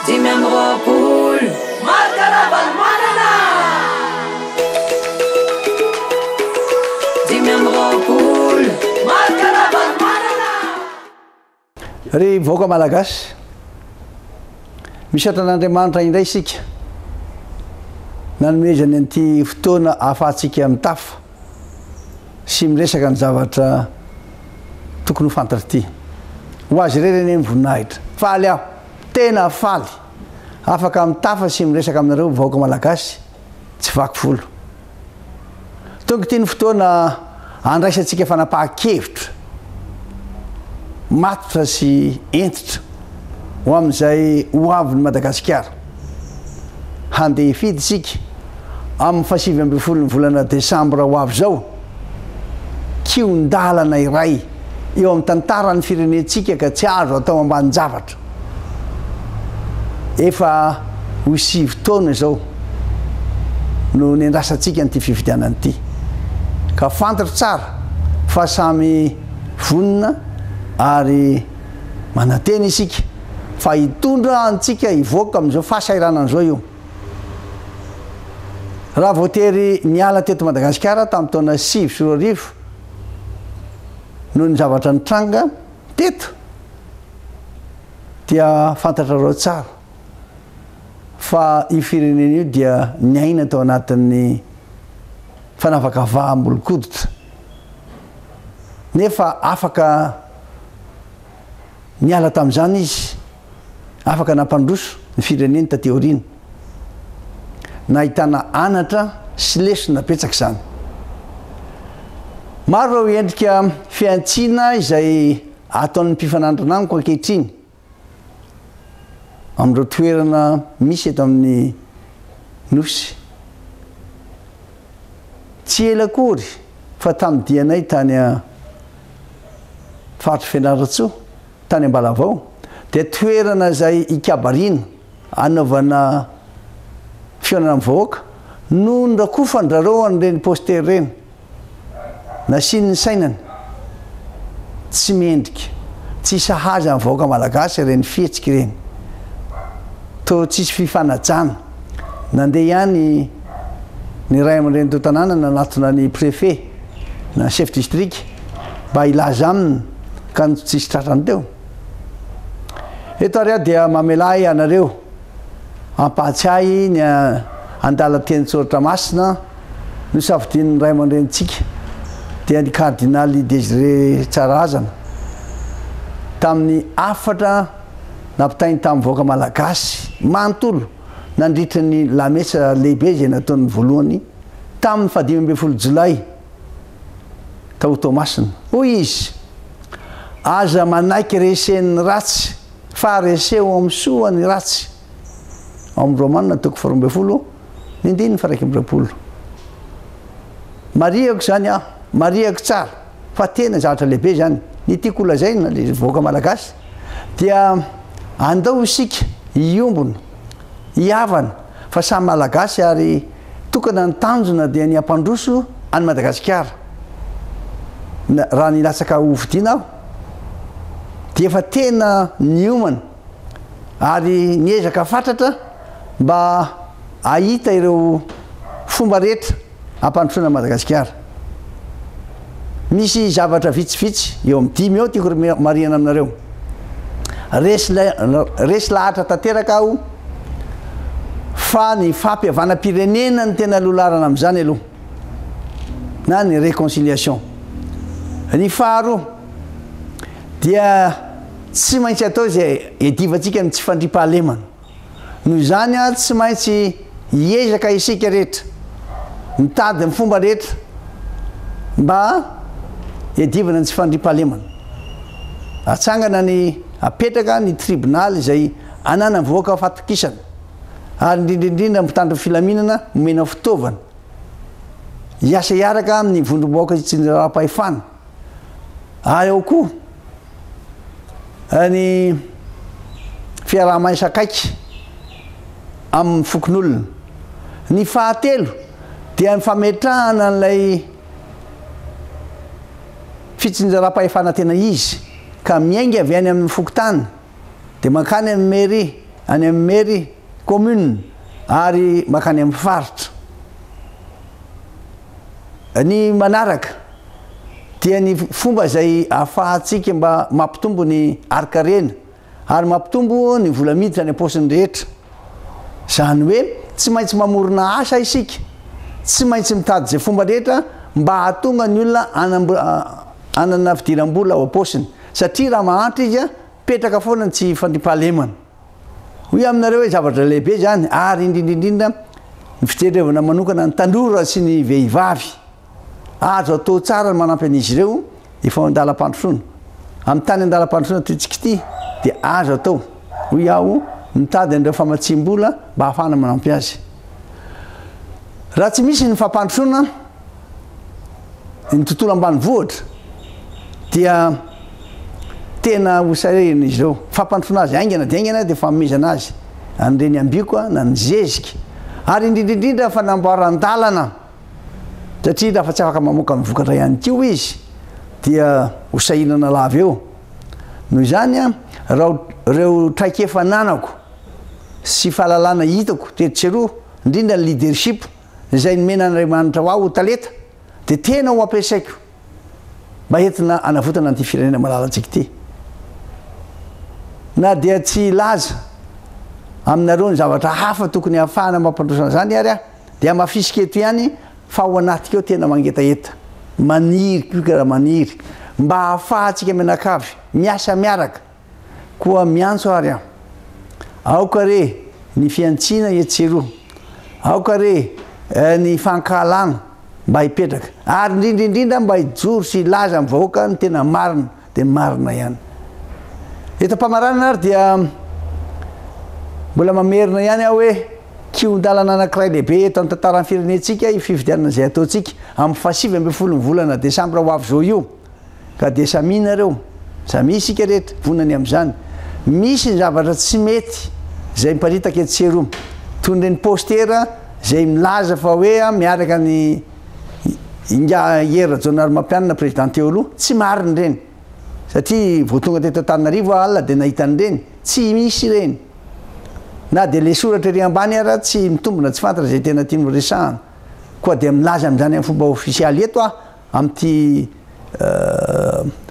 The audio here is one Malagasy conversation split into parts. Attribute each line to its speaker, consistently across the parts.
Speaker 1: Dimy amby roapolo. Marc Ravalomanana! Dimy amby roapolo. Marc Ravalomanana!
Speaker 2: Ry vahoaka Malagasy, misaotra an'Andriamanitra indray isika nanomezany an'ity fotoana ahafahantsika mitafa sy miresaka ny zavatra tokony ho fantatra ity. Ho azy irery anie ny voninahitra. Faly aho. Tena faly, afaka mitafa sy miresaka aminareo vahoaka malagasy tsy vaky volo. Tonga ity ny fotoana handraisantsika fanapahan-kevitra matotra sy hentitra ho amin'izay ho avin'i Madagasikara. Handeha hifidy isika amin'ny fahasivy ambin'ny folon'ny volana desambra ho avy izao. kihon-dalana iray eo amin'ny tantaran'ny firenentsika ka tsy azo atao ambanin-javatra. Efa ho sivy taona izao no niandrasantsika an'ity fifidianana ity, ka fantatro tsara fa samy vonona ary manantena isika fa hitondra antsika hivoaka amin'izao fahasahiranana izao io. Raha vao tery niala teto Madagasikara tamin'ny taona sivy sy roa arivo noho ny zavatra nitranga teto dia fantatrareo tsara fa io firenena io dia niaina tao anatin'ny fanavakavaham-bolokoditra nefa afaka niala tamin'izany izy afaka nampandroso ny fireneny taty aoriana. Nahitana anatra sy lesona betsaka izany. Maro ireo endrika fihantsiana izay ataon'ny mpifanandrina amiko ankehitriny amin'ireo toerana misy eto amin'ny Nosy. Tsy ela akory fa tamin'ny dianay tany Faritr'i Fianarantsoa Tany Ambalavao dia toerana izay hikabariana, hanaovana fihaonana amin'ny vahoaka no norakofandrareo an'ireny poster ireny. Nasiany ny sainany. Tsy mendrika, tsy sahaza ny vahoaka malagasy ireny fihetsika ireny. Toa tsisy fifanajana. Nandeha ihany ny ray aman-drenin'ireo tanàna nanatona ny prefe na chef district mba hilaza aminy ka ny tsisy tratrany teo. Eto ary aho dia mamelà ahy anareo hampahatsiahy ny andalan-teny Tsoratra Masina nosafidian'ny ray aman-drenintsika dia ny Kardinaly Désiré Tsararazana tamin'ny hafatra nampitainy tamin'ny vahoaka malagasy manontolo nandritra ny lamesa lehibe izay nataony voalohany tamin'ny fahadimy ambin'ny folo jolay tao Toamasina. Hoy izy, Aza manaiky resen'ny ratsy fa reseho amin'ny soa ny ratsy. Ao amin'ny Romana toko faharoa ambin'ny folo, ny andininy faharaika amby roapolo. Marihako izany aho, marihako tsara. Fa tena zavatra lehibe izany. Ny tiako holazaina ry vahoaka malagasy dia andao isika hiombona, hihavana fa samy malagasy ary tokana ny tanjona dia ny hampandroso an'i Madagasikara. Raha nilatsaka hofidiana aho dia efa tena niomana ary niezaka fatratra mba hahita ireo fomba rehetra Hampandrosoana an'i Madagasikara. Misy zavatra vitsivitsy, eo amin'ny dimy eo, tiako homarihina aminareo. Resy, resy lahatra tanteraka aho fa ny fampihavanam-pirenena no tena lolarana amin'izany aloha, na ny réconciliation. Ny faharoa dia tsy maintsy atao izay iadivantsika ny tsy fandriampahalemana. Noho izany, tsy maintsy hiezaka isika rehetra, mitady ny fomba rehetra mba hiadivana ny tsy fandriampahalemana. Atsangana ny hapetraka ny tribonaly izay ananan'ny vahoaka fahatokisana, ary indrindra indrindra ny mpitandro ny filaminana omena fitaovana hiasa hiaraka amin'ny vondrom-bahoaka sy ny raharaham-pahefana. ary ao koa ny fiaraha-maisa akaiky amin'ny fokonolona. Ny fahatelo dia ny fametrahana an'ilay fitsinjaram-pahefana tena izy ka miainga avy any amin'ny fokontany dia mankany amin'ny mairie, any amin'ny mairie commune ary mankany amin'ny faritra. Ny manaraka dia ny fomba izay ahafahantsika mba mampitombo ny harinkarena ary mampitombo ny vola miditra any am-paosiny rehetra. Izany hoe tsy maintsy mamorona asa isika, tsy maintsy mitady izay fomba rehetra mba hahatonga ny olona hanana fidiram-bola ao am-paosiny satria raha mahantra izy, petraka foana ny tsy fandriampahalemana. Hoy aminareo hoe zavatra lehibe izany ary indrindra indrindra ny fitendrevana manokana ny tanora sy ny vehivavy. Azo atao tsara ny manampy an'izy ireo efa ao an-dalam-pandrosoana. Amin'ny tany an-dalam-pandrosoana tointsika ity dia azo atao, hoy aho, mitady an'ireo famatsiam-bola mba hahafahana manampy azy. Raha tsy misy ny fampandrosoana, ny tontolo ambanivohitra dia tena ho sarihina izy ireo. Fampandrosoana azy haingana dia haingana dia fanomezana azy ny reniambiko na ny zezika ary indrindra indrindra fanamboaran-dalana satria raha fa tsy afaka mamoaka ny vokatra ihany koa izy dia ho sahirana lava eo. Noho izany a, raha ireo traikefa ananako sy fahalalana hitako tetsy sy eroa, indrindra ny leadership, izay nomena Andriamanitra ho ahy ho talenta dia tena ho ampiasaiko mba entina hanavotana an'ity firenena malalantsika ity. Na dia tsy hilaza aminareo ny zavatra hafa tokony hahafahana mampandroso an'izany ary aho, dia hamafisiko eto ihany fa ao anatiko ao tena mangetaheta, maniry koa raha maniry, mba hahafahantsika mianakavy miasa miaraka. Koa miantso ary aho. Aoka re ny fihantsiana etsy sy eroa, aoka re ny fankahalana mba hipetraka, ary indrindra indrindra mba hijoro sy hilaza amin'ny vahoaka ny tena marina, dia marina ihany. Eto am-pamaranana ary dia mbola mamerina ihany aho hoe, kihon-dalana anankiray lehibe eto amin'ny tantaran'ny firenentsika io fifidianana izay ataontsika amin'ny fahasivy ambin'ny folo ny volana desambra ho avy izao io. Ka dia samia nareo, samia isika rehetra, vonona ny amin'izany. Misy ny zavatra tsy mety izay miparitaka etsy sy eroa. Toy ireny postera izay milaza fa hoe miaraka an' i Ingahy Hery Rajaonarimampianina Président teo aloha. Tsy marina ireny. Satria vao tonga teto Antananarivo aho alina dia nahita an'ireny. Tsy misy ireny. Na dia ilay soratra ery ambany ara tsy mitombina tsy fantatra izay tena tiany horesahana. Koa dia milaza an'izany amin'ny fomba ofisialy eto aho. Amin'ity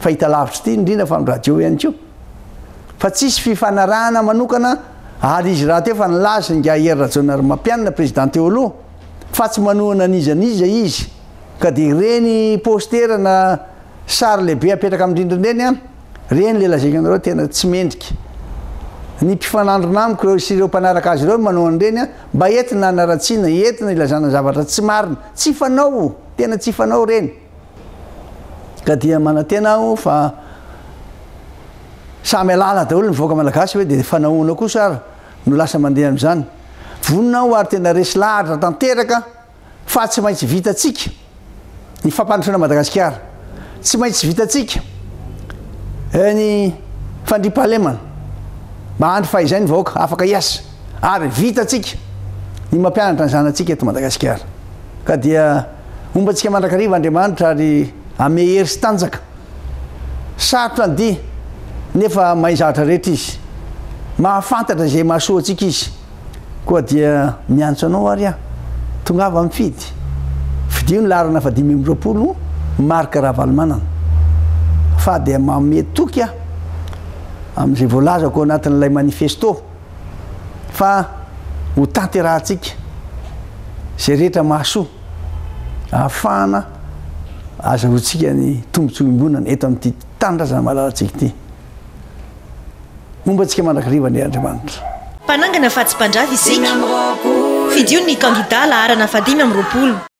Speaker 2: fahitalavitra ity indrindra fa ny radio ihany koa fa tsy hisy fifanarahana manokana ary izy rahateo fa nilaza i Ingahier Rajaonarimampianina Président teo aloha fa tsy manohana an'iza n'iza izy ka dia ireny postera na sary lehibe apetraka amin'ny rindrina ireny an, ireny ilay lazaiko anareo tena tsy mendrika ny mpifanandrina amiko ireo sy ireo mpanaraka azy ireo no manao an'ireny an, mba entina hanaratsiana, entina hilazana zavatra tsy marina, tsy fanao. Tena tsy fanao ireny. Ka dia manantena aho fa samy halala daholo ny vahoaka malagasy hoe dia fanahoana kosa ary no lasa mandeha amin'izany. Vonona aho ary tena resy lahatra tanteraka fa tsy maintsy vitantsika ny fampandrosoana Madagasikara. Tsy maintsy vitantsika ny fandriampahalemana mba handry fahizay ny vahoaka afaka hiasa. ary vitantsika ny mampianatra ny zanatsika eto Madagasikara. Ka dia homba antsika mandrakariva Andriamanitra ary ame hery sy tanjaka. Sarotra ny dihy nefa mahay zavatra rehetra Izy. Mahafantatra izay mahasoa antsika Izy. Koa dia miantso anao ary aho, tongava mifidy. Fidio ny laharana fahadimy amby roapolo, Marc Ravalomanana. Fa dia manome toky aho amin'izay voalazako ao anatin'ilay manifesto. fa ho tanterahantsika izay rehetra mahasoa ahafahana azahoantsika ny tombontsoa iombonana eto amin'ity tanindrazana malalantsika ity. Homba antsika mandrakariva anie Andriamanitra. Mpanangana fa
Speaker 3: tsy mpandrava isika. Fidio ny kandida laharana fahadimy amby roapolo.